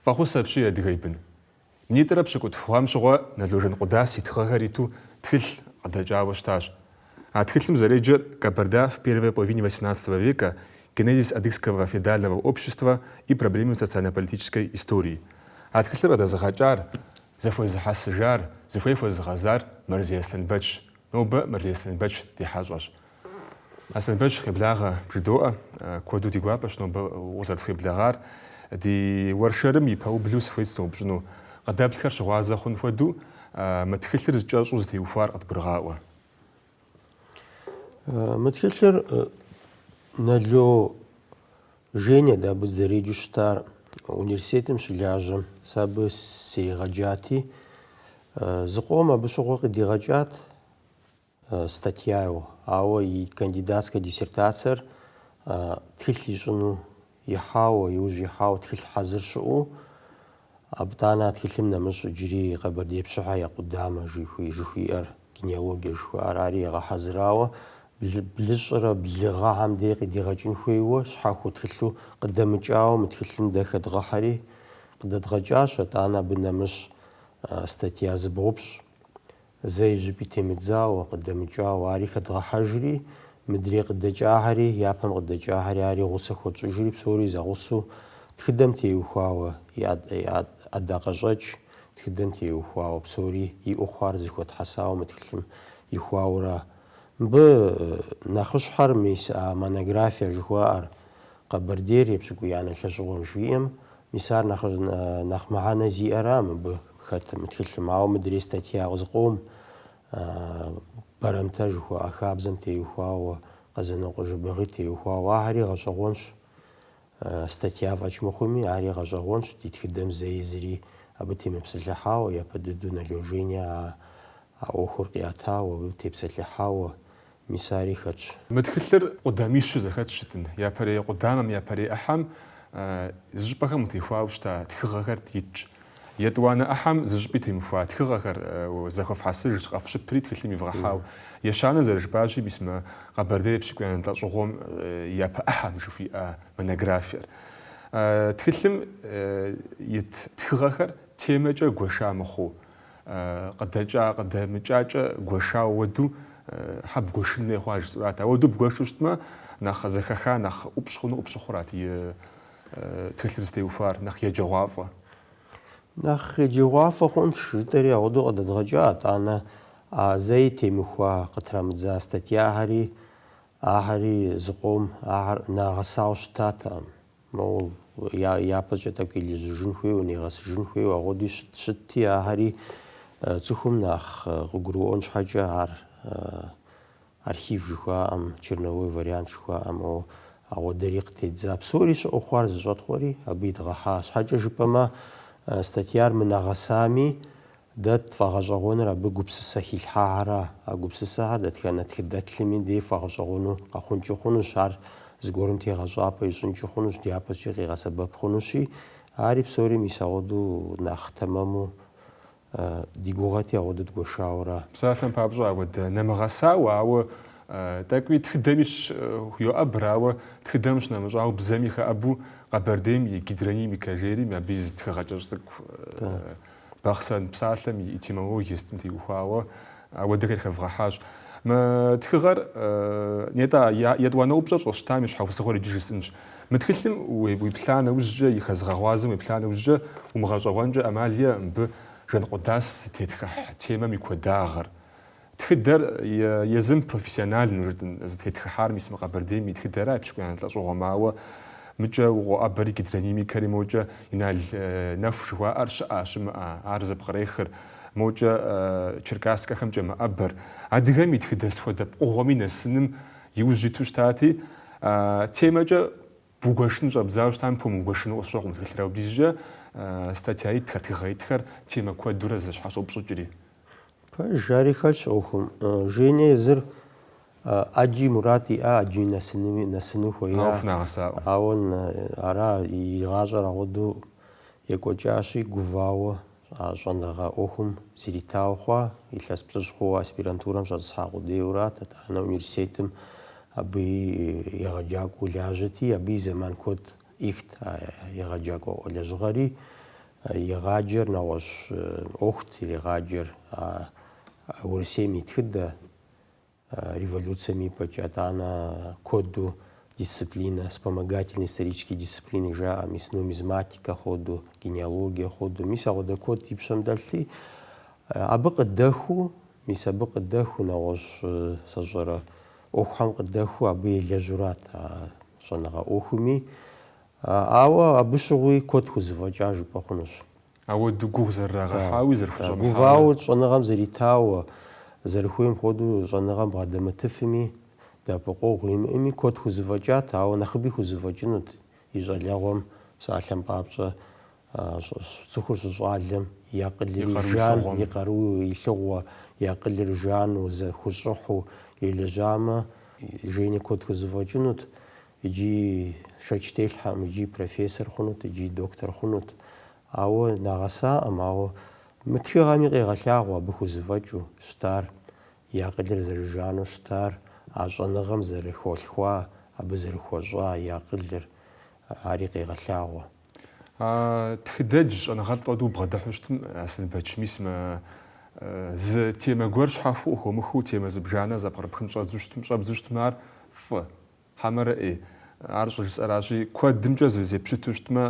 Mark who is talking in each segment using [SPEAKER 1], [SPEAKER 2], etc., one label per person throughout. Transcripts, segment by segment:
[SPEAKER 1] Фӏэхъус апщий, Адыгэ и бын. Минитӏрэ пщыкӏутху гъэм щыгъуэ Нало Жанкъудас и тхыгъэхэр иту тхылъ къыдэкӏауэ щытащ. А тхылъым зэреджэр Кабарда в первой половине восемнадцатого века, Генезис адыгского феодального общества и проблемы социально-политической истории. А тхылъыр къыдэзыгъэкӏар, зэхуэзыхьэсыжар, зыхуей хуэзыгъэзар Мэрзей Аслъэнбэчщ, нобэ Мэрзей Аслъэнбэч ди хьэщӏэщ. Аслъэнбэч къеблагъэ, бжыдоӏэ, куэду ди гуапэщ нобэ укъызэрытхуеблэгъар. Ди уэршэрым и пэублу сыхуейт сыноупщӏыну, къыдэплъхэр щыгъуазэ хъун хуэдэу, мы тхылъыр кӏэщӏу зытеухуар къыдгурыгъаӏуэ. Мы тхылъыр Нало Женя дэ абы дызэреджэу щытар университетым щылажьэм. Сэ абы сригъэджати, зыкъом абы щыгъуэ къыдигъэкӏат статьяу, ауэ и кандидатскэ диссертацэр тхылъ ищӏыну Ихьауэ, иужь ихьауэ тхылъ хьэзыр щыӏэу, Абытӏанэ а тхылъым нэмыщӏ иджыри Къэбэрдей пщыхэ я къудамэ жыхуиӏэр, генеалогия жыхуиӏар, ари егъэхьэзырауэ, блыщӏрэ блы гъэхэм дей къыдигъэкӏын хуейуэ, щхьэхуэу тхылъу къыдэмыкӏауэ мы тхылъым дэ хэдгъэхьэри, къыдэдгъэкӏащ, атӏанэ абы нэмыщӏ статья зыбгъупщӏ. Зэи зыщӏыпӏи темыдзауэ, къыдэмыкӏауэ, ари хэдгъэхьэжри, мыдрей къыдэкӏахэри, япэм къыдэкӏахэри, ари гъусэ хуэтщӏыжри, псори зэгъусэу, тхыдэм теухуауэ, и ӏэдакъэщӏэкӏ тхыдэм теухуауэ, псори иӏэу хъуар зэхуэтхьэсауэ мы тхылъым ихуауэра. Мыбы нэхъыщхьэр мис а монография жыхуаӏэр, Къэбэрдейр епщыкӏуиянэ лӏэщӏыгъуэм жиӏэм, Мис ар нэхъ нэхъ мыхьэнэ зиӏэра мыбы хэт мы тхылъым? Ауэ мыдрей статья къызыкъом, Бэрэмтэ жыхуаӏэ хабзэм теухуауэ, Къэзанокъуэ Жэбагъи теухуауэ, ахэри гъэщӏэгъуэнщ. Статья фӏэкӏ мыхъуми, ари гъэщӏэгъуэнщ ди тхыдэм зэи зыри абы темыпсэлъыхьауэ, япэ дыдэу Нало Женя а ӏуэхур къиӏэтауэ, абы тепсэлъыхьауэ, Мис ари хэтщ. Мы тхылъыр къудамищу зэхэт щытын, япэрей къудамэм, япэрей ӏыхьэм зыщӏыпӏэхэм техуауэ щыта тхыгъэхэр итщ. Етӏуанэ ӏыхьэм зыщӏыпӏи темыхуа тхыгъэхэр зэхуэфхьэсыжщ, къэфщыпри тхылъым ивгъэхьауэ. Ещанэр зэрыжыпӏащи, мис мы Къэбэрдей епщыкӏуиянэ лӏэщӏыгъуэм и япэ ӏыхьэм жыхуиӏэ монографиер. Тхылъым ит тхыгъэхэр темэкӏэ гуэша мыхъуу, Къыдэкӏа, къыдэмыкӏакӏэ гуэшауэ ауэду щхьэ бгуэшын хуей хъуа жысӏэурат. Ауэду бгуэшу щытмэ, нэхъ зэхэха, нэхъ ӏупщӏ хъуну къыпщыхъурат и тхылъыр зытеухуар, нэхъ еджэгъуафӏэ. Нэхъ еджэгъуафӏэ хъунщ жытӏэри агъуэду къыдэдгъэкӏа, атӏанэ а зэи темыхуа къытрамыдза статьяхэри, ахэри зыкъом ахэр нагъэсауэ щытатэкъым. Моуэ дяпэкӏэ тӏэкӏу елэжьыжын хуейуэ, нигъэсыжын хуейуэ, агъуэдуи щыт, щытти, ахэри цӏыхум нэхъ къыгурыӏуэн щхьэкӏэ ар архив жыхуаӏэм, черновой вариант жыхуаӏэм, о, агъуэдэри къытеддза. Псори щыӏэу хъуар зэщӏэткъуэри абы идгъэхьа. Щхьэкӏэ жыпӏэмэ, статьяр мынагъэсами, Дэ тфӏэгъэщӏэгъуэныр абы гупсысэ хилъхьахэра. А гупсысэхэр дэтхэнэ тхыдэтхми дей фӏэгъэщӏэгъуэну къэхъункӏи хъунущ, ар зыгуэрым тегъэщӏапӏэ ищӏынкӏи хъунущ, дяпэкӏэ къигъэсэбэп хъунущи, ари псори мис агъуэду нэхъ тэмэму ди гугъэти агъуэду дгуэшауэра? Псалъэм папщӏэ апхуэдэ нэмыгъэсауэ, ауэ тӏэкӏуи тхыдэми щхуйоӏэбр, ауэ тхыдэм щынэмыщӏауэ, бзэми хэӏэбу Къэбэрдейм и гидронимикэ жери абы и зы тхыгъэ кӏэщӏ цӏыкӏу Бахъсэн псалъэм и этимологие сытым теухуауэ апхуэдэхэр хэвгъэхьащ. Мы тхыгъэр, нетӏэ, етӏуанэ упщӏэр щӏэстам и щхьэусыгъуэр иджы жысӏынщ. Мы тхылъым уеплъа нэужькӏэ, и хэзыгъэгъуазэм уеплъа нэужькӏэ, умыгъэщӏэгъуэнкӏэ ӏэмал иӏэкъым мыбы Жэнкъуэдас зытетхыхь темэм и куэдагъыр, Тхыдэр езым профессиональнэу, жытӏэн, зытетхыхьар мис мы Къэбэрдейм и тхыдэра епщыкӏуиянэ лӏэщӏыгъуэм, ауэ мыкӏэ къоӏэбэри гидронимикэри мокӏэ Инал Нэху жыхуаӏэр щыӏа, щымыӏар зэпкърехыр, мокӏэ Черкасскэхэмкӏэ мэӏэбэр. Адыгэм и тхыдэ сыт хуэдэ пкъыгъуэми нэсыным и ужь иту щытати, темэкӏэ Бгуэшын щӏэбдзауэ щытам пхуэмыгуэшыну къысщохъу мы тхылъыр, апхуэдизкӏэ статья итхэр, тхыгъэ итхэр темэ куэдурэ зэщхьэщоупщӏыкӏри. Пэж ари хэлъщ ӏуэхум. Жене езыр ӏэджи мурад иӏа, ӏэджэми нэсыну хуея. Ауэ хунагъэсакъым. Ауэ ара и гъащӏэр агъуэду екӏуэкӏащи, гувауэ А щӏэныгъэ ӏуэхум зритауэ хъуа илъэс плӏыщӏ хъууэ аспирантурэм щӏэтӏысхьа къудейуэрат, итӏанэ университетым абы и егъэджакӏуэу лажьэти, абы и зэман куэд ӏихт а егъэджакӏуэ лэжьыгъэри. Игъаджэр нэгъуэщӏ ӏуэхут иригъаджэр а Урысейм и тхыдэ. Революцэм ипэкӏэ, итӏанэ куэду дисциплинэ, вспомогательные исторические дисциплины жаӏэ, мис нумизматикэ хуэду, генеалогие хуэду, мис агъуэдэ куэд и пщэм дэлъти, абы къыдэху, мис абы къыдэху нэгъуэщӏ сщӏэрэ ӏуэхухэм къыдэху абы елэжьурат а щӏэныгъэ ӏуэхуми, ауэ абы щыгъуи куэд хузэфӏэкӏа жыпӏэ хъунущ. Ауэду гугъу зэрырагъэхьауи зэрыхущӏэмыхьауи. Да, гувауэ щӏэныгъэм зэритауэ, зэрыхуейм хуэдэу щӏэныгъэм бгъэдэмытыфми, дэӏэпыкъуэгъу имыӏэми куэд хузэфӏэкӏат, ауэ нэхъыби хузэфӏэкӏынут и щӏалэгъуэм псалъэм папщӏэ, цӏыхур щыщӏалэм и акъылри жан, и къару илъыгъуэ, и акъылыр жану, зэхущӏыхьу елэжьамэ, Жени куэд хузэфӏэкӏынут. Иджы шэч телъхьэкъым, иджы профессор хъунут, иджы доктор хъунут. Ауэ нагъэсакъым, ауэ мы тхыгъэми къегъэлъагъуэ абы хузэфӏэкӏыу щытар, и акъылыр зэрыжану щытар, а щӏэныгъэм зэрыхалъхуа, абы зэрыхуэщӏа и акъылыр, ари къегъэлъагъуэ. А тхыдэдж щӏэныгъэлӏ хуэдэу убгъэдыхьу щытым, Аслъэнбэч, мис мы зы темэ гуэр щхьэхуэу къыхыумыхыу темэ зыбжанэ зэпкърыпхын щӏэдзу щытым, щӏэбдзу щытмэ, ар фӏы, Хьэмэрэ ӏей, ар щӏыжысӏэращи, куэдымкӏэ зеппщыту щытмэ,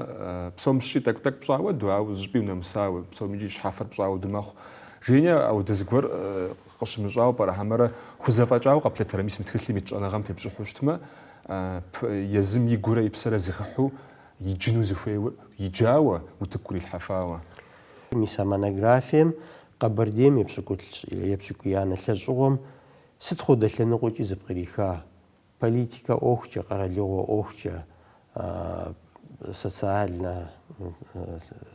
[SPEAKER 1] псом щыщӏи тӏэкӏу-тӏэкӏу пщӏауэду, ауэ зыщӏыпӏи унэмысауэ, псом икӏи щхьэфэр пщӏауэду мэхъу. Женя ауэдэ зыгуэр къыщымыщӏауэ пӏэрэ, Хьэмэрэ хузэфӏэкӏауэ къэплъытэрэ, мис мы тхылъым ит щӏэныгъэм тепщӏыхьу щытмэ, езым и гурэ и псэрэ зыхыхьу иджыну зыхуейр, иджауэ, утыку кърилъхьэфауэ. Мис а монографием Къэбэрдейм епщыкӏу, епщыкӏуиянэ лӏэщӏыгъуэм Сыт хуэдэ лъэныкъуэкӏи зыпкъриха, политикэ ӏуэхукӏэ, къэралыгъуэ ӏуэхукӏэ, социальнэ,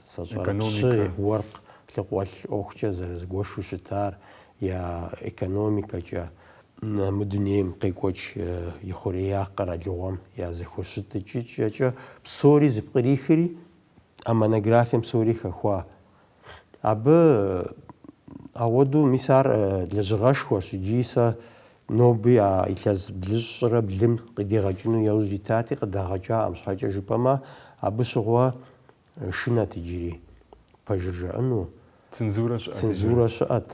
[SPEAKER 1] сэ сщӏэрэ, пщы, уэркъ, лъхукъуэлӏ ӏуэхукӏэ зэрызыгуэшу щытар, я экономикэкӏэ, мы дунейм къекӏуэкӏ ихъуреягъ къэралыгъуэм я зэхущытыкӏыкӏэкӏэ псори зыпкърихри, а монографием псори хэхуа Абы ауэдэу, мис ар лэжьыгъэшхуэщ икӏи сэ ноби а илъэс блыщӏрэ блым къыдигъэкӏыну яужь итати, къыдагъэкӏакъым, щхьэкӏэ жыпӏэмэ, абы щыгъуэ шынэт иджыри пэжыр жаӏэну, Цензурэ щыӏэт иджыри. цензурэ щыӏэт.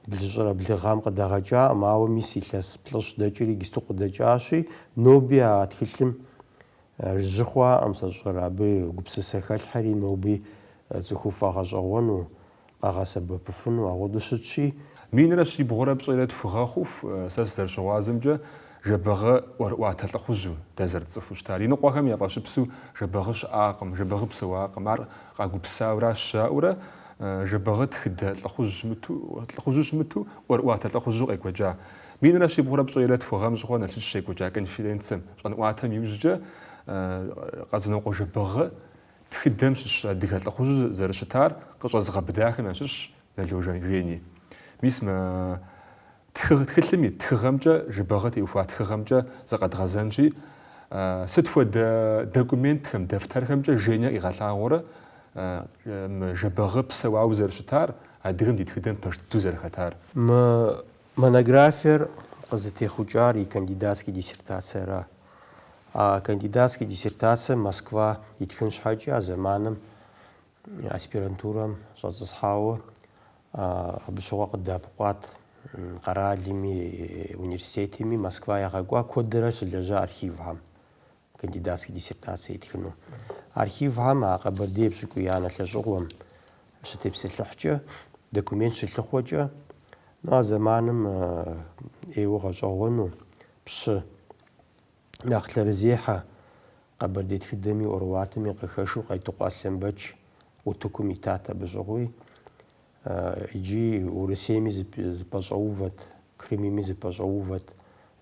[SPEAKER 1] Блыщӏрэ блы гъэм къыдагъэкӏакъым, ауэ мис илъэс плӏыщӏ дэкӏри иджыпсту къыдэкӏащи, ноби а тхылъым жьы хъуакъым, сэ сщӏэрэ, абы гупсысэ хэлъхэри ноби цӏыхум яфӏэгъэщӏэгъуэну, къагъэсэбэпыфыну, апхуэдэу щытщи, Минрэ щибгъурэ пщӏейрэ тху гъэ хъуху, сэ сызэрыщыгъуазэмкӏэ, Жэбэгъы ӏуэрыӏуатэ лӏыхъужьу, дэ зэрытцӏыхуу щытар. Иныкъуэхэм яфӏэщыпсу Жэбэгъы щыӏакъым, Жэбэгъы псэуакъым, ар къагупсауэращ жаӏэурэ, Жэбэгъы тхыдэ лӏыхъужь щымыту, лӏыхъужьу щымыту, ӏуэрыӏуатэ лӏыхъужьу къекӏуэкӏа. Минрэ щибгъурэ пщӏейрэ тху гъэм щыгъуэ Налшык щекӏуэкӏа конференцэм, щӏэнӏуатэм иужькӏэ, Къэзанокъуэ Жэбэгъы тхыдэм щыщ адыгэ лӏыхъужьу зэрыщытар къыщӏэзыгъэбыдахэм ящыщщ Нало Жени. Мис мы Тхыгъ, тхылъым ит тхыгъэмкӏэ Жэбагъы теухуа тхыгъэмкӏэ зыкъэдгъэзэнщи, сыт хуэдэ документхэм, дэфтэрхэмкӏэ Женя къигъэлъагъуэрэ мы Жэбагъы псэуауэ зэрыщытар, адыгэм ди тхыдэм пэж дыдэу зэрыхэтар? Мы монографиер къызытехъукӏар и кандидатский диссертацэра? А кандидатский диссертацэр Москва итхын щхьэкӏи а зэманым Аспирантурэм щӏэцӏысхьауэ абы щыгъуэ къыдэӏэпыкъуат къэралми, университетми, Москва ягъэкӏуа куэдрэ щылэжьа архивхэм кандидатскэ диссертацие итхыну. Архивхэм а Къэбэрдей пщӏыкӏуиянэ лӏэщӏыгъуэм щытепсэлъыхькӏэ, документ щылъыхъуэкӏэ, ну а зэманым ӏейуэ гъэщӏэгъуэну пщы Нэхъ лъэрызехьэ къэбэрдей тхыдэми ӏуэрыӏуатэми къыхэщу Къетыкъуэ Аслъэнбэч утыкум итат абы щӏыгъуи. Иджы Урысейми зэпэщӏэувэт, Крымми зэпэщӏэувэт,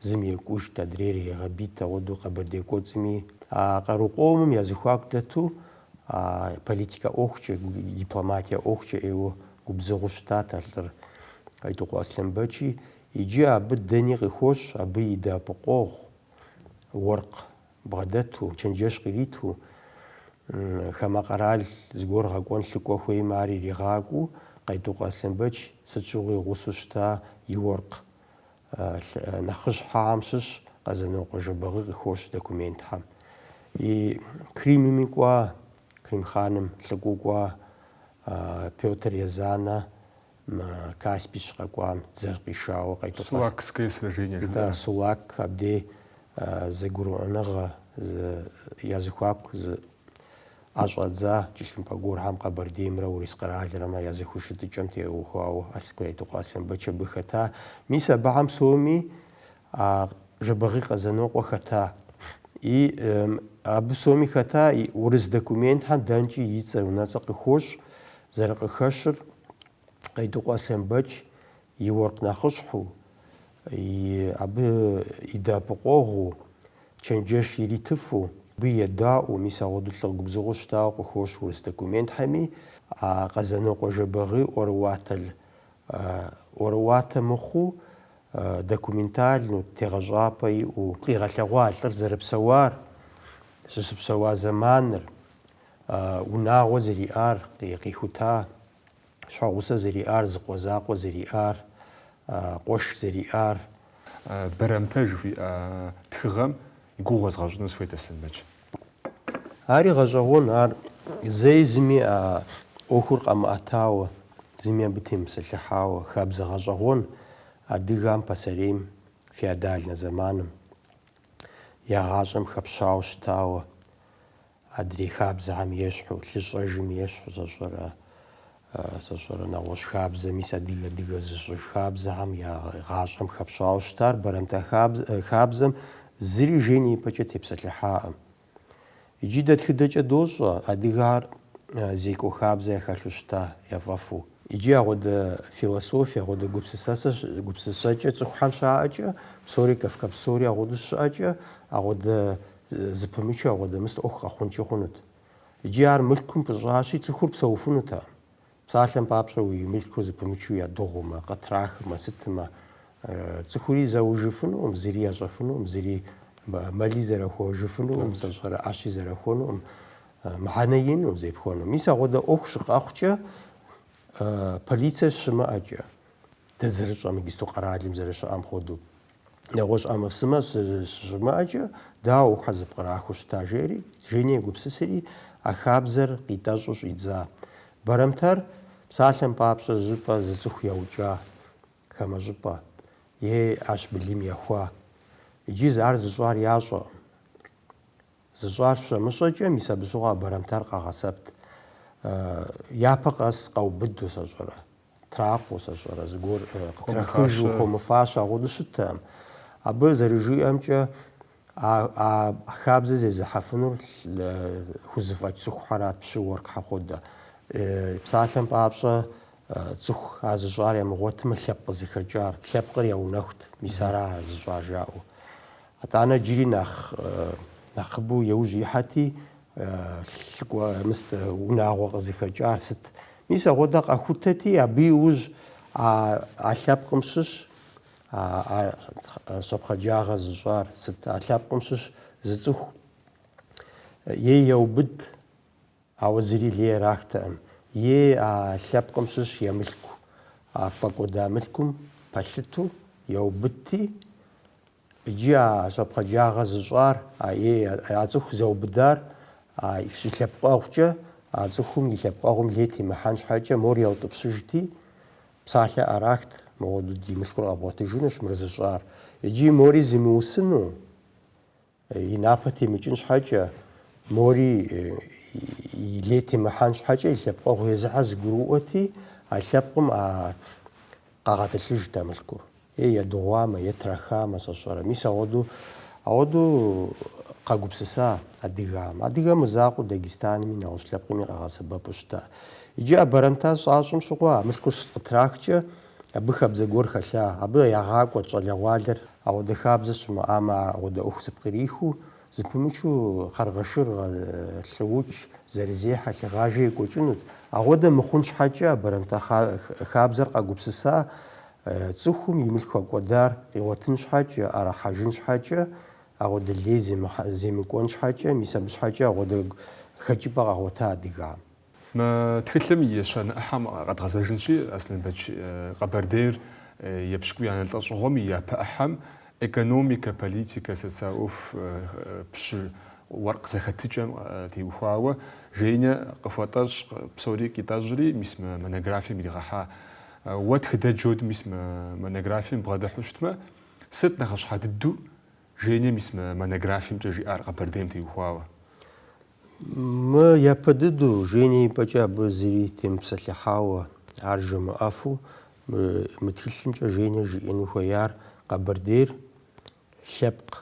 [SPEAKER 1] зым екӏужт, адрейр иригъэбийт, агъуэдэу Къэбэрдей кӏуэцӏми. А къару къомым я зыхуаку дэту а политикэ ӏуэхукӏэ, дипломатие ӏуэхукӏэ ӏейуэ губзыгъэу щытат а лӏыр. Къетыкъуэ Аслъэнбэчи Иджы абы дэни къыхощ, абы и дэӏэпыкъуэгъу, уэркъ бгъэдэту, чэнджэщ къириту, хамэ къэрал зыгуэр гъэкӏуэн лӏыкӏуэ хуеймэ, ар иригъакӏуэу, Къетыкъуэ Аслъэнбэч сыт щыгъуи гъусэу щыта и уэркъ нэхъыщхьэхэм щыщ Къэзанокъуэ Жэбагъы къыхощ документхэм. И Крымми кӏуа, Крым хъаным лӏыкӏуэу кӏуа Пётр Езанэ Мы Каспий щыкъэкӏуам дзэр къишауэ къетӏыпӏэ. Сулакское сражение жаӏэрэ? Да, Сулак абдей зэгурыӏуэныгъэ, я зыхуаку ӏэ щӏэдза кӏылъымпӏэ гуэрхэм Къэбэрдеймрэ Урыс къэралрэмэ я зэхущытыкӏэм теухуауэ а Къетыкъуэ Аслъэнбэч абы хэта. Мис абыхэм псоми А Жэбагъи Къэзанокъуэ хэта и абы соми хэта и урыс документхэм дэнкӏи и цӏэ, унэцӏэ къыхощ, зэрыкъыхэщыр Къетыкъуэ Аслъэнбэч и уэркъ нэхъыщхьу, и абы и дэӏэпыкъуэгъуу, чэнджэщ иритыфу, абы едаӏуэу, мис агъуэду лӏы губзыгъэу щытауэ къыхощ урыс документхэми, а Къэзанокъуэ Жэбагъи ӏуэрыӏуатэ ӏуэрыӏуатэ мыхъуу, документальну, тегъэщӏапӏэ иӏэу. Къигъэлъэгъуа лӏыр зэрыпсэуар, щыщыпсэуа зэманыр, унагъуэ зэриӏар, къихута щхьэгъусэ зэриӏар, зыкъуэ закъуэ зэриӏар, къуэш зэриӏар. Бэрэмтэ жыхуиӏэ тхыгъэм и гугъу уэзгъэщӏыну сыхуейт Аслъэнбэч. Ари гъэщӏэгъуэн, ар зэи зыми а ӏуэхур къэмыӏэтауэ, зыми абы темысэлъыхьауэ, хабзэ гъэщӏэгъуэн адыгам пасэрейм, феодальнэ зэманым, я гъащӏэм хэпщауэ щытауэ, адрей хабзэхэм ещхьу, лъыщӏэжым ещхьу сэ сщӏэрэ Сэ сщӏэрэ, нэгъуэщӏ хабзэ, мис адыгэр адыгэ зыщӏыж хабзэхэм я гъащӏэм хэпщауэ щытар бэрэмтэ хабзэм зыри Женям ипэкӏэ тепсэлъыхьакъым. Иджы дэ тхыдэкӏэ дощӏэ, адыгэхэр Зекӏуэ хабзэ яхэлъу щыта, яфӏэфӏу. Иджы ахуэдэ философие, ахуэдэ гупсысэкӏэ цӏыхухэм щаӏэкӏэ, псори Кавказ псори ахуэдэу щыӏэкӏэ, ахуэдэ зыпымычу, ахуэдэ мыс ӏуэху къэхъункӏи хъунут. Иджы ар мылъкум пыщӏащи, цӏыхур псэуфынутэкъым. Псалъэм папщӏэ, уи мылъкур зыпымычу ядыгъумэ, къытрахымэ, сытымэ, цӏыхури заужьыфынукъым, зыри ящӏэфынукъым, зыри мэли зэрахуэжыфынукъым, сэ сщӏэрэ ӏэщи зэрахуэнукъым, мыхьэнэ иӏэнукъым зепхуэну. Мис агъуэдэ ӏуэху щыкъэхъукӏэ, полицие щымыӏэкӏэ, дэ зэрытщӏэм, иджысту къэралым зэрыщыӏэм хуэдэу, нэгъуэщӏ ӏэмэпсымэ щыщымыӏэкӏэ, дауэ ахьэ зэпкърахыу щыта жери, Женя гупсысри, а хабзэр къитӏэщӏу щӏидза. Бэрэмтэр, псалъэм папщӏэ, зыщӏыпӏэ зы цӏыху яукӏа, хамэ щӏыпӏэ, е ӏэщ былым яхуа. Иджы ар зыщӏар ящӏэкъым. Зыщӏар щамыщӏэкӏэ, мис абы щыгъуэ а бэрэмтэр къагъэсэбэпт. Япэ къэс къаубыду, сэ сщӏэрэ, Тракъуэ, сэ сщӏэрэ, зыгуэр къытрахыжу хуэмыфащэу агъуэдэу щыттэкъым. Абы зэрыжиӏэмкӏэ, а а хабзэ зезыхьэфынур хузэфӏэкӏ цӏыхухьэрат пщы уэркъхьэ хуэдэ. Псалъэм папщӏэ, цӏыху а зыщӏар ямыгъуэтмэ, лъэпкъ къызыхэкӏар, лъэпкъыр яунэхут, мис ара а зыщӏар жаӏэу. Атӏанэ джыри нэхъ нэхъыбэу яужь ихьэти, лӏакъуэ, мыстэ, унагъуэ къызыхэкӏар сыт? Мис агъуэдэ къахутэти, абы иужь а а лъэпкъым щыщ а а щӏэпхъаджагъэ зыщӏар сыт? А лъэпкъым щыщ зы цӏыху е яубыдт, ауэ зыри лей ирахтэкъым, е а лъэпкъым щыщ и мылъку, а фӏэкӏуэда мылъкум пэлъыту яубыдти, Иджы а щӏэпхъаджагъэ зыщӏар, а е а цӏыху яубыдар а и лъэпкъэгъукӏэ, а цӏыхум и лъэпкъэгъум лей темыхьэн щхьэкӏэ мор яутӏыпщыжти, псалъэ ӏэрахт, мыгъуэдэу ди мылъкур къэбгъуэтыжынущ мыр зыщӏар. Иджыи мори зимыусыну, и напэ темыкӏын щхьэкӏэ, мори и лей темыхьэн щхьэкӏэ и лъэпкъэгъу езыхьэ зыгурыӏуэти, а лъэпкъым а Къагъэтӏылъыжт а мылъкур. Е едыгъуамэ, е трахамэ, сэ сщӏэрэ. Мис ауэду, ауэду къэгупсыса адыгам. Адыгэм мызакъуэу Дагестанми, нэгъуэщӏ лъэпкъми къагъэсэбэпу щыта. Иджы а бэрэмтэ щащӏэм щыгъуэ а мылъкур щыкъытрахкӏэ, абы хабзэ гуэр хэлъа. Абы ягъакӏуэрт щӏалэгъуалэр. Ауэдэ хабзэ щымыӏамэ, ауэдэ ӏуэху зэпкърихыу. Зэпымычу хьэргъэшыргъэ лӏыукӏ зэрызехьэ лъыгъажэ екӏуэкӏынут. Ауэдэ мыхъун щхьэкӏэ а бэрэмтэ хабзэр къагупсыса цӏыхум и мылъку фӏэкӏуэдар къигъуэтын щхьэкӏэ, ӏэрыхьэжын щхьэкӏэ, ауэдэ лей земыкӏуэн щхьэкӏэ, мис абы щхьэкӏэ ауэдэ хэкӏыпӏэ къагъуэта адыгам. Мы тхылъым и ещанэ ӏыхьэм къэдгъэзэжынщи, Аслъэнбэч Къэбэрдейр епщыкӏуиянэ лӏэщӏыгъуэм и япэ ӏыхьэм экономикэ, политикэ, социал ӏуэху пщы уэркъ зэхэтыкӏэм теухуауэ Женя къыхуэтӏэщӏ, псори къитӏэщӏри, мис мы монографием иригъэхьа. Уэ тхыдэдж хуэдэу мис мы монографием убгъэдыхьу щытмэ, сыт нэхъыщхьэ дыдэу Женя мис мы монографиемкӏэ жиӏар Къэбэрдейм теухуауэ? Мы япэ дыдэу Женя и пӏэкӏэ абы зыри темыпсэлъыхьауэ, ар жамыӏэфу, мы мы тхылъымкӏэ Женя жиӏэну хуеяр Къэбэрдейр лъэпкъ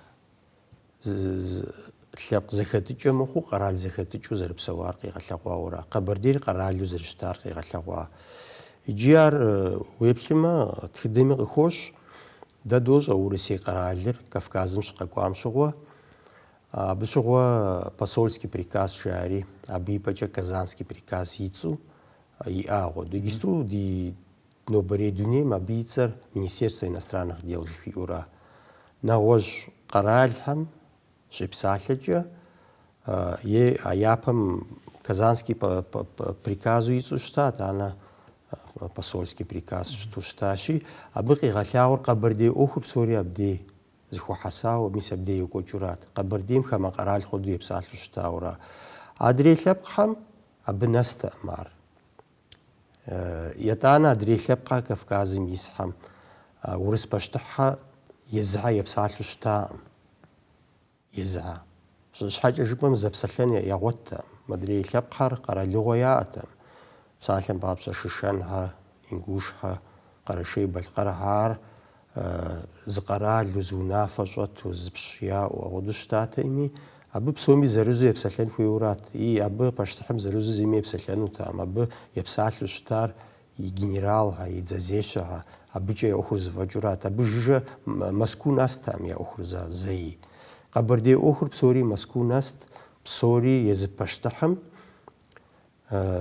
[SPEAKER 1] лъэпкъ зэхэтыкӏэ мыхъуу къэрал зэхэтыкӏэу зэрыпсэуар къигъэлъэгъуауэра, Къэбэрдейр къэралу зэрыщытар къигъэлъэгъуа. Иджы ар уеплъымэ тхыдэми къыхощ, дэ дощӏэ Урысей къэралыр Кавказым щыкъэкӏуам щыгъуэ Абы щыгъуэ посольский приказ жаӏэри, абы и пӏэкӏэ казанский приказ и цӏэу иӏагъуэ. Иджысту ди нобэрей дунейм абы и цӏэр Министерство иностранных дел жыхуиӏэура. Нэгъуэщӏ къэралхэм щепсалъэкӏэ, е а япэм казанский приказу и цӏэу щыта, етӏанэ посольский приказ щыту щытащи, абы къигъэлъагъуэр къэбэрдей ӏуэхур псори абдей зыхуэхьэсауэ, мис абдей екӏуэкӏыурат, Къэбэрдейм хамэ къэрал хуэдэу епсалъэу щытауэра. Адрей лъэпкъхэм абы нэстэкъым ар. Етӏанэ адрей лъэпкъхэр Кавказым исхэм урыс пащтыхьхэр езыхьэ епсалъэу щытакъым. Езыхьэ. Сыт щхьэкӏэ жыпӏэм зэпсэлъэн ягъуэттэм. Модрей лъэпкъхэр къэралыгъуэ яӏэтэм. Псалъэм папщӏэ Шэшэнхьэ, Ингушхьэ, Къэрэшей-Балъкъэрхьэ ар зы къэралу, зы унафэ щӏэту, зы пщ яӏэу апхуэдэу щытатэми, абы псоми зэрызу епсэлъэн хуейуэрат, ии, абы пащтыхьым зэрызу зыми епсэлъэнутэм, абы епсалъэу щытар и генералхэ, и дзэзешэхэ, абыкӏэ я ӏуэхур зэфӏэкӏыурат, абы жыжьэ Мэзкуу нэстэкъым я ӏуэхур за, зэи. Къэбэрдей ӏуэхур псори Мэзкуу нэст, псори езы пащтыхьым,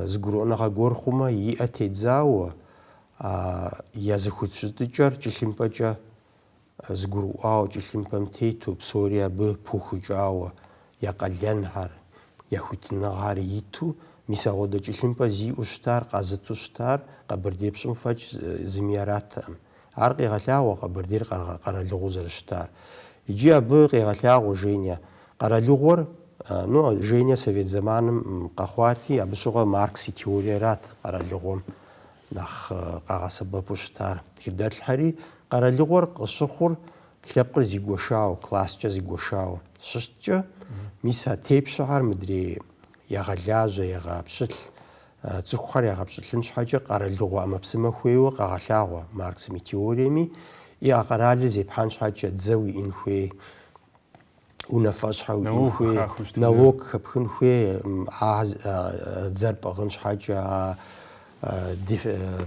[SPEAKER 1] зыгурыӏуэныгъэ гуэр хъумэ, и ӏэ тедзауэ, а я зэхущытыкӏэр тхылъымпӏэкӏэ зыгурыӏуауэ тхылъымпӏэм тету, псори абы пыухыкӏауэ, я къалэнхэр, я хуитыныгъэхэр иту, мис агъуэдэ тхылъымпӏэ зиӏэу щытар, къазыту щытар Къэбэрдей пщым фӏэкӏ зыми яраттэкъым. Ар къегъэлъагъуэ Къэбэрдейр къэралыгъуэу зэрыщытар. Иджы абы къегъэлъагъуэ Женя. Къэралыгъуэр, ну, Женя совет зэманым къэхъуати, абы щыгъуэ Маркс и теориерат къэралыгъуэм Нэхъ къагъэсэбэпу щытар тхыдэлъхэри къэралыгъуэр къыщыхъур лъэпкъыр зигуэшауэ, класскӏэ зигуэшауэ щыщыткӏэ, мис а тепщэхэр мыдрей ягъэлажьэ, ягъэпщылӏ, цӏыхухэр ягъэпщылӏын щхьэкӏэ къэралыгъуэ ӏэмэпсымэ хуейуэ къегъэлъагъуэ Марксым и теориеми, и а къэралыр зепхьэн щхьэкӏэ дзэ уиӏын хуей унафэщӏхэ уиӏын хуей, налог хэпхын хуей, а дзэр пӏыгъын щхьэкӏэ а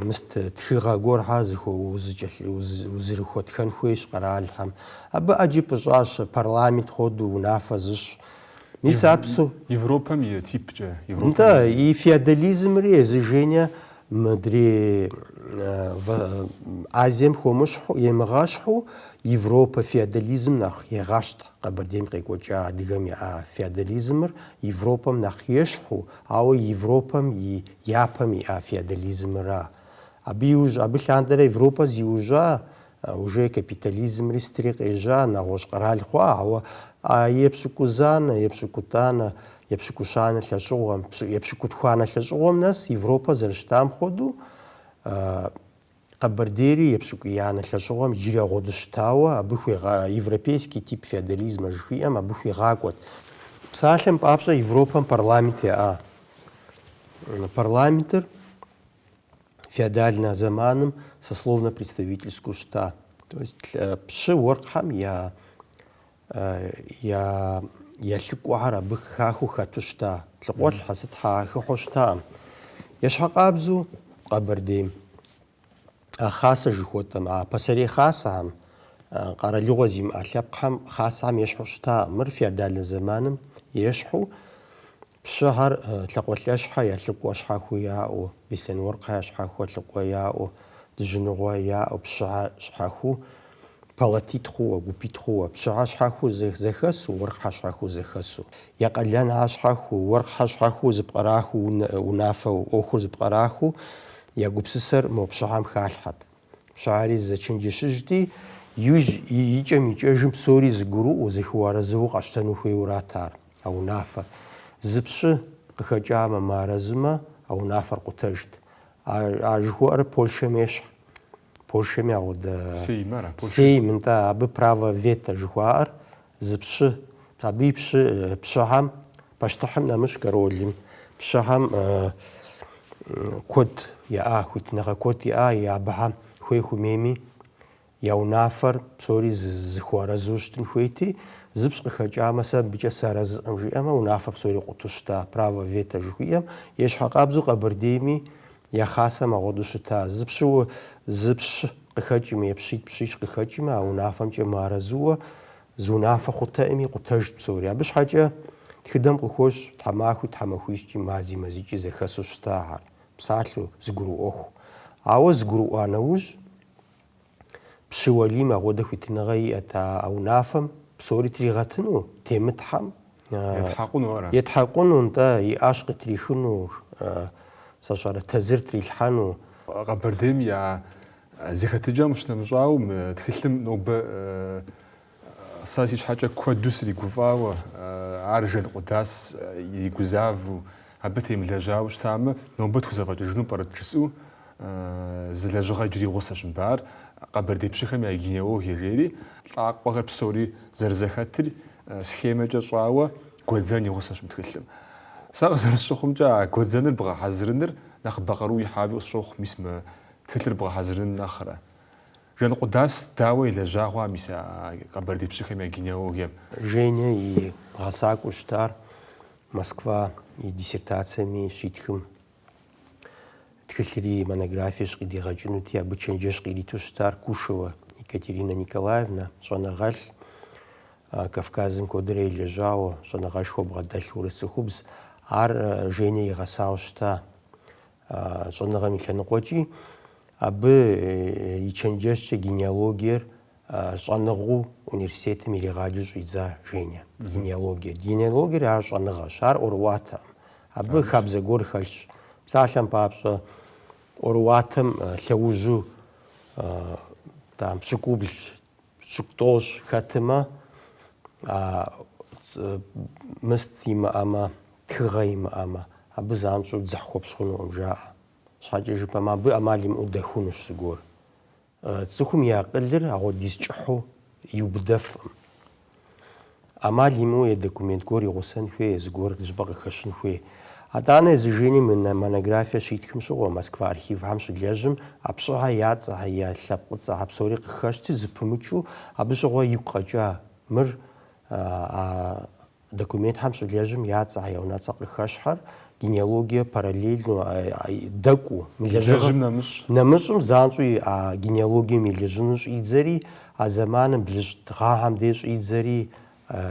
[SPEAKER 1] мыст тхыгъэ гуэрхэр узэрыхуэтхэн хуейщ къэралхэм. Абы ӏэджи пӏыщӏащ, парламент хуэдэу унафэ зыщӏ. Мис ар псо. Европэм и типкӏэ. Европэм и. Нтӏэ, и феодализмри езы Женя Мыдрей Азием хуэмыщхьу, емыгъэщхьу Европэ феодализм нэхъ егъэщхь. Къэбэрдейм къекӏуэкӏа адыгэм яӏа феодализмыр Европэм нэхъ ещхьу, ауэ Европэм и япэм иӏа феодализмра. Абы иужь, абы лъандэрэ Европэ зиужьа уже капитализмри сытри къежьа, нэгъуэщӏ къэрал хъуа, ауэ а епщыкӏузанэ, епщыкӏутӏанэ, епщыкӏущанэ лӏэщӏыгъуэм, епщыкӏутхуанэ лӏэщӏыгъуэм нэс Европэ зэрыщытам хуэдэу, Къэбэрдейри епщыкӏуиянэ лӏэщӏыгъуэм иджыри агъуэдэу щытауэ, абы хуигъа, европейский тип феодализмэ жыхуиӏэм абы хуигъакӏуэт. Псалъэм папщӏэ, Европэм парламент яӏа. Парламентыр феодальнэ зэманым сословно-представительскэу щыта. То есть пщы уэркъхьэм я я я лӏыкӏуэхэр абы хахыу хэту щыта. Лъхукъуэлӏхьэ сытхьэ хыхьэу щытакъым. Ещхькъабзэу Къэбэрдейм а хасэ жыхуэтӏэм, а пасэрей хасэхэм, къэралыгъуэ зимыӏэ лъэпкъхэм, хасэхэм ещхьу щытакъым. Мыр феодальнэ зэманым ещхьу Пщыхьэр, лӏакъуэлӏэшхьэ я лӏыкӏуэ щхьэхуу яӏэу, беслъэн уэркъхьэ я щхьэхуэ лӏыкӏуэ яӏэу, дыжьыныгъуэ яӏэу, пщыхьэ щхьэхуу, палатитӏ хъууэ, гупитӏ хъууэ, пщыхьэ щхьэхуу зэхэсу, уэркъхьэ щхьэхуу зэхэсу, я къалэн а щхьэхуу, уэркъхьэ щхьэхуу зэпкърахыу, унафэу, ӏуэхур зэпкърахыу, я гупсысэр мо пщыхьэм халъхьэт. Пщыхьэри зэчэнджэщыжти, иужь икӏэм икӏэжым псори зыгурыӏуэу, зэхыуарэзыуэу къащтэну хуейуэрат ар, а унафэр. Зы пщы къыхэкӏамэ, мыарэзымэ, а унафэр къутэжт. А, а жыхуэӏэр Польшэм ещхь. Польшэми агъуэдэ... Сейм ара, Польшэ? Сейм, нтӏэ, абы право вето жыхуаӏэр, Зы пщы, абы и пщы, пщыхьэм, пащтыхьым нэмыщӏ королым, пщыхьэм куэд яӏа, хуитыныгъэ куэд яӏа, абыхьэм хуей хумейми я унафэр псори зыхуэарэзу щытын хуейти, зы пщ къыхэкӏамэ, сэ абыкӏэ сарэзыӏым жиӏэмэ, унафэр псори къуту щыта, право вето жыхуиӏэм, ещхьыркъабзэу Къэбэрдейми Я хъасэм агъуэду щыта, зы пщыуэ зы пщ къыхэкӏыми е пщитӏ пщищ къыхэкӏыми, а унафэмкӏэ мыарэзыуэ зы унафэ хъутэӏыми, къутэжт псори. Абы щхьэкӏэ тхыдэм къыхощ тхьэмахуи тхьэмахуищкӏи мази мазикӏи зэхэсу щытахьэр, псалъэу, зыгурыӏуэху. Ауэ зыгурыӏуа нэужь. Пщы Уэлийм агъуэдэ хуитыныгъэ иӏэт а унафэм, псори тригъэтыну, темытхьэм. Етхьэкъуну ара? Етхьэкъуну, нтӏэ, и ӏэщ къытрихыну, сщӏэрэ, тэзыр трилъхьэну. Къэбэрдейм я зэхэтыкӏэм къыщынэмыщӏауэ, мы тхылъым нобэ Сэ си щхьэкӏэ куэду сригуфӏауэ, ар Жанкъудас иригузавэу, абы темылэжьауэ щытамэ, нобэ тхузэфӏэкӏыжыну пӏэрэт жысӏэу, зы лэжьыгъэ иджыри и гъусэщ мыбы ар, къэбэрдей пщыхэм я генеалогие жери, лӏакъуэхэр псори зэрызэхэтыр схемэкӏэ щӏауэ гуэдзэн и гъусэщ мы тхылъым. Сэ къызэрысщыхъумкӏэ а гуэдзэныр бгъэхьэзырыныр нэхъыбэ къару ихьауи къысщохъу, мис мы тхылъыр бгъэхьэзырын нэхърэ. Жанкъудас дауэ елэжьа хъуа мис а къэбэрдей пщыхэм я генеалогием? Женя и гъэсакӏуэу щытар Москва и диссертацэми щитхым тхылъри монографиещ къыдигъэкӏынути, абы чэнджэщ къириту щытар Кушева Екатерина Николаевна, щӏэныгъэлӏ, Кавказым куэдрэ елэжьауэ, щӏэныгъэшхуэ бгъэдэлъ урыс цӏыхубз. Ар Женя игъэсауэ щыта. А щӏэныгъэм и лъэныкъуэкӏи абы и чэнджэщкӏэ генеалогиер щӏэныгъэу университетым иригъаджэу щӏидза Женя. Генеалогиер. Генеалогиер ар щӏэныгъэщ, ар ӏуэрыӏуатэкъым. Абы хабзэ гуэр хэлъщ. Псалъэм папщӏэ, ӏуэрыӏуатэм лъэужьу там пщыкӏубл Пщыкӏутӏощӏ хэтымэ, а мыст имыӏэмэ, тхыгъэ имыӏэмэ, абы занщӏэу дзыхь хуэпщӏ хъунукъым жаӏэ. Щхьэкӏэ жыпӏэмэ, абы ӏэмал имыӏэу дэхунущ зыгуэр. Цӏыхум и акъылыр агъуэдиз кӏыхьу иубыдэфкъым. ӏэмал имыӏэу е документ гуэр игъусэн хуей, е зыгуэр зыщӏыпӏэ къыхэщын хуей. Атӏанэ езы Женя мы монографиер щитхым щыгъуэ, Москва архивхэм щылэжьым, а пщыхьэ я цӏэхьэ, я лъэпкъыцӏэхьэ псори къыхэщти, зыпымычу, абы щыгъуэ игу къэкӏа, мыр, а документхэм щылэжьым, я цӏэхьэ, я унэцӏэ къыхэщхьэр, генеалогие параллельно, дэкӏуу, мы лэжьыгъэм нэмыщӏ, нэмыщӏым занщӏэу а генеалогием и лэжьыныр щӏидзэри, А зэманым блыщӏ гъэхьэм де щӏидзэри,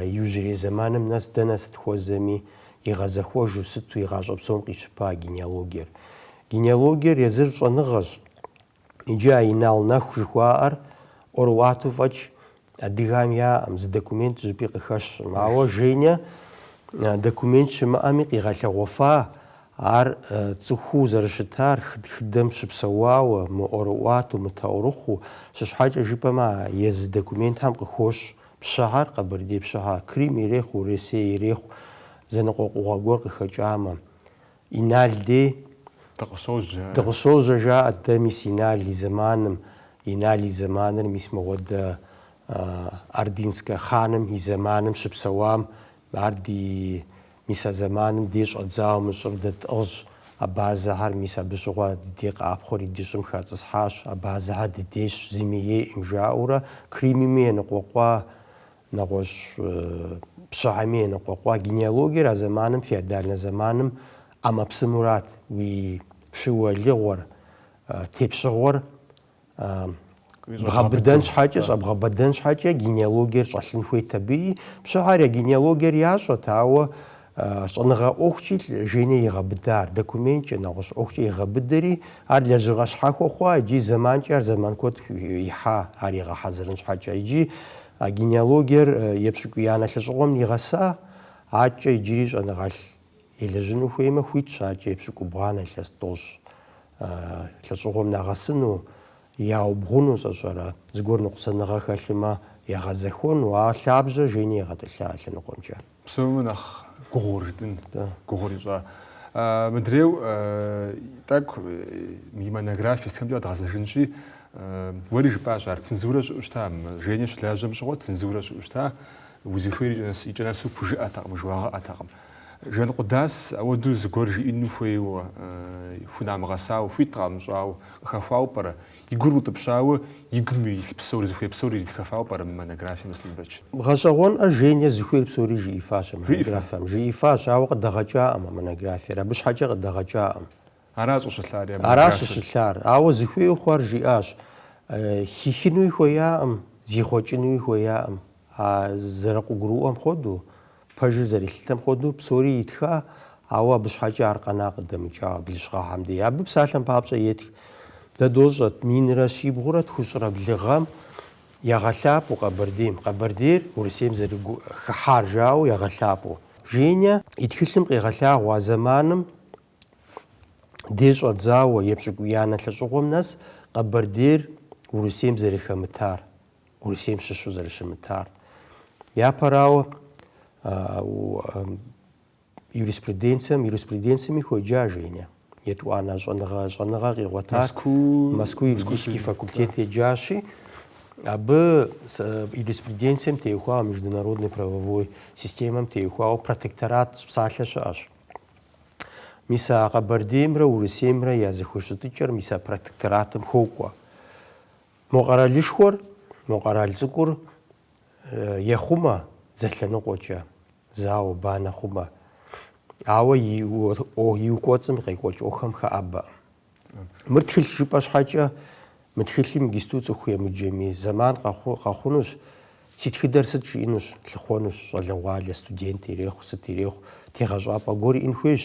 [SPEAKER 1] иужьрей зэманым нэс дэнэ сыт хуэзэми, игъэзэхуэжу сыту и гъащӏэ псом къищыпа генеалогиер. Генеалогиер езыр щӏэныгъэщ. Иджы а Инал Нэху жыхуаӏэр ӏуэрыӏуатэу фӏэкӏ адыгэхэм яӏэм, зы документ жьыпӏи къыхэщкъым. Ауэ Женя документ щымыӏэми къигъэлъэгъуэфа Ар цӏыхуу зэрыщытар тхыдэм щыпсэуауэ, мыӏуэрыӏуатэу, мытаурыхъыу, сыт щхьэкӏэ жыпӏэмэ, а езы документхэм къыхощ пщыхьэр, къэбэрдей пщыхьэ, Крим ирехъу, Урысей ирехъу, зэныкъуэкъугъэ гуэр къыхэкӏамэ, Инал дей дыкъыщожьэ, жаӏэрт, дэ мис Инал и зэманым, Инал и зэманыр мис мыгъуэдэ Ордынскэ хъаным и зэманым щыпсэуам, ар ди Мис а зэманым дей щӏэдзауэ мы щӏыр дэ тӏыгъщ. Абазэхэр, мис абы щыгъуэ ди дей къэӏэпхъуэри ди щӏым хацӏысхьащ, абазэхэр дыдейщ, зыми ейӏым, жаӏэурэ, Кримми еныкъуэкъуа, нэгъуэщӏ пщыхьэми еныкъуэкъуа, генеалогиер а зэманым, феодальнэ зэманым, ӏэмэпсымэу арат, уи пщы уэлыгъуэр, тепщыгъуэр Бгъэбыдэн щхьэкӏэ, щӏэбгъэбыдэн щхьэкӏэ генеалогиер щӏэлъын хуейт абыи. Пщыхьэр я генеалогиер ящӏэт, ауэ щӏэныгъэ ӏуэхукӏи Женя игъэбыда ар документкӏэ, нэгъуэщӏ ӏуэхукӏэ игъэбыдэри, ар лэжьыгъэ щхьэхуэ хъуа икӏи зэманкӏэ ар зэман куэд ихьа ар игъэхьэзырын щхьэкӏэ. Икӏи а генеалогиер епщыкӏуиянэ лӏэщӏыгъуэм нигъэса, адэкӏэ иджыри щӏэныгъэлӏ Елэжьыну хуеймэ, хуитщ адэкӏэ епщыкӏубгъуанэ, илъэс тӏощӏ лӏэщӏыгъуэм нагъэсыну, яубгъуну, сщӏэрэ, зыгуэр ныкъусаныгъэ хэлъымэ, ягъэзэхуэну, а лъабжьэр Женя игъэтӏылъа а лъэныкъуэмкӏэ. Псоми нэхъ гугъур жытӏын, гугъур ищӏа. Мыдрейу тӏэкӏу и монографие сытхэмкӏэ къэдгъэзэжынщи, уэри жыпӏащ ар, цензурэ щыӏэу щыта, Женя щылажьэм щыгъуэ цензурэ щыӏэу щыта, Узыхуейр икӏэ-нэс, икӏэ-нэсу пхужыӏэтэкъым, жыуагъэӏэтэкъым. Жэнкъудас ауэдэу зыгуэр жиӏину хуейуэ, хунамыгъэсауэ, хуит къамыщӏауэ, къыхэхуауэ пӏэрэ? И гур утӏыпщауэ, и гум илъ псор, зыхуей псор иритхэфауэ пӏэрэ мы монографием, Аслъэнбэч? Гъэщӏэгъуэнӏэ, Женя зыхуейр псори жиӏифащ а монографием. Жиӏифащ, ауэ къыдагъэкӏакъым а монографиер, абы щхьэкӏэ къыдагъэкӏакъым. Ара щӏыщылъар. Ауэ зыхуейуэ хъуар жиӏащ. Хихынуи хуеяӏым, зихъуэкӏынуи хуеяӏым. А зэрыкъыгурыӏуэм хуэдэу, пэжыр зэрилъытэм хуэдэу псори итха, ауэ абы щхьэкӏэ ар къэна къыдэмыкӏауэ блыщӏ гъэхэм дей. Абы псалъэм папщӏэ етх. Дэ дощӏэт, минрэ щибгъурэ тхущӏрэ блы гъэм ягъэлъапӏэу Къэбэрдейм, Къэбэрдейр Урысейм зэрыгу-хыхьар жаӏэу ягъэлъапӏэу. Женя и тхылъым къигъэлъагъуэ а зэманым дей щӏэдзауэ, епщыкӏуиянэ лӏэщӏыгъуэм нэс Къэбэрдейр Урысейм зэрыхэмытар, Урысейм щыщу зэрыщымытар. Япэрауэ, юриспруденцием, юриспруденциями хуеджа Женя. Етӏуанэ щӏэныгъэ, щӏэныгъэ къигъуэтар. Мэску, Мэску юридический факультет еджащи, абы юриспруденцием теухуауэ, международной правовой системэм теухуауэ протекторат псалъэ щыӏэщ. Мис а Къэбэрдеймрэ Урысеймрэ я зэхущытыкӏэр мис а протекторатым хокӏуэ. Мо къэралышхуэр, мо къэрал цӏыкӏур ехъумэ дзэ лъэныкъуэкӏэ, зауэ, банэ хъумэ, ауэ и кӏуэцӏым къекӏуэкӏ ӏуэхухэм хэӏэбэкъым. Мыр тхылъ жыпӏэ щхьэкӏэ, мы тхылъым иджысту цӏыху емыджэми, зэман къэхъу, къэхъунущ, си тхыдэр сыт жиӏэнущ, лъыхъуэнущ, щӏалэгъуалэ, студент, ирехъу, сыт ирехъу, тегъэщӏапӏэ гуэр иӏэн хуейщ.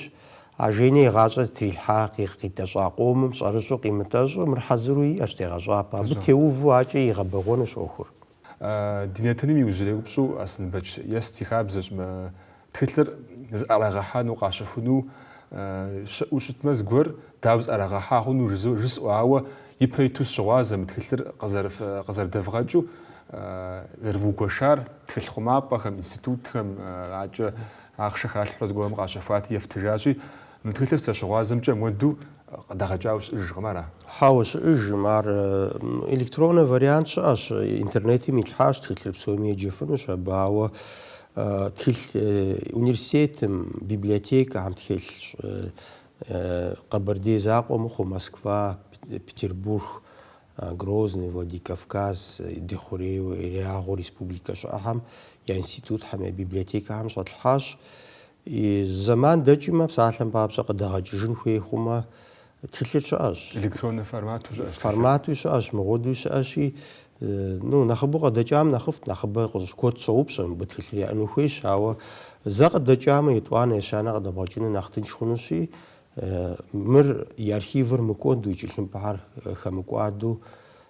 [SPEAKER 1] А Женэ и гъащӏэр зытрилъхьа, къигъ-къитӏэщӏа къомым щӏэрыщӏэу къимытӏэщӏу, мыр хьэзыру иӏэщ, тегъэщӏапӏэ, абы теуву акӏэ игъэбэгъуэнущ ӏуэхур. Ди нэтыным иужьрей упщӏэу Аслъэнбэч ест си хабзэщ мы тхылъыр зыӏэрагъэхьэну, къащэхуну щыӏэу щытмэ, зыгуэр дауэ зыӏэрагъэхьа хъуну жызо жысӏэу, ауэ ипэ иту сыщыгъуазэ мы тхылъыр къызэрыдэвгъэкӏыу, зэрывыугуэшар тхылъ хъумапӏэхэм, институтхэм, акӏэ ахъшэ халъхьэурэ зыгуэрым къащэхуати ефтыжащи, Мы тхылъыр сыщыгъуазэмкӏэ муэду къыдэгъэкӏауэ щыӏэжкъым, ара? Хьэуэ, щыӏэжкъым. Ар электронный вариант щыӏэщ. Интернетым итлъхьащ тхылъыр псоми еджэфынущ абы, ауэ тхылъ университетым, библиотекэхэм тхылъщ. Къэбэрдей закъуэ мыхъуу, Москва, Петербург, Грозный, Владикавказ, ди хъурейуэ, хъуреягъыу республикэ щыӏэхэм я институтхэм, я библиотекэхэм щӏэтлъхьащ. И зэман дэкӏмэ, псалъэм папщӏэ къыдэгъэкӏыжын хуей хъумэ, тхылъыр щыӏэщ. Электроннэ формату щыӏэщ тхылъыр. Форматуи щыӏэщ, мыпхуэдэуи щыӏэщи, ну, нэхъыбэу къыдэкӏам нэхъыфӏт, нэхъыбэ куэд щӏоупщӏэ, мыбы тхылъыр яӏэну хуейщ, ауэ зэ къыдэкӏамэ, етӏуанэ ещанэ къыдэбгъэкӏыну нэхъ тынш хъунущи, мыр, и архивыр мыкӏуэду, и тхылъымпӏэхэр хэмыкӏуаду,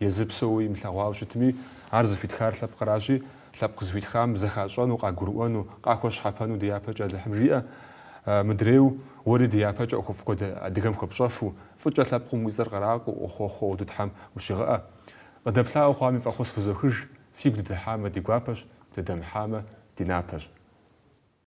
[SPEAKER 1] Езы псэууэ имылъэгъуауэ щытми, ар зыхуитхар лъэпкъращи, лъэпкъ зыхуитхам зэхащӏэну, къагурыӏуэну, къахуэщхьэпэну ди япэкӏэ Алыхьым жиӏэ. Мыдрейу, уэри ди япэкӏэ ӏуэхуфӏ куэд адыгэм хуэпщӏэфу, фӏыкӏэ лъэпкъым уи цӏэр къраӏуэу, уэхъуэхъуу ди Тхьэм ущигъэӏэ. Къыдэплъауэ хъуами фӏэхъус фызохыж, фигу дыдыхьамэ, ди гуапэщ, дыдэмыхьамэ, ди напэщ.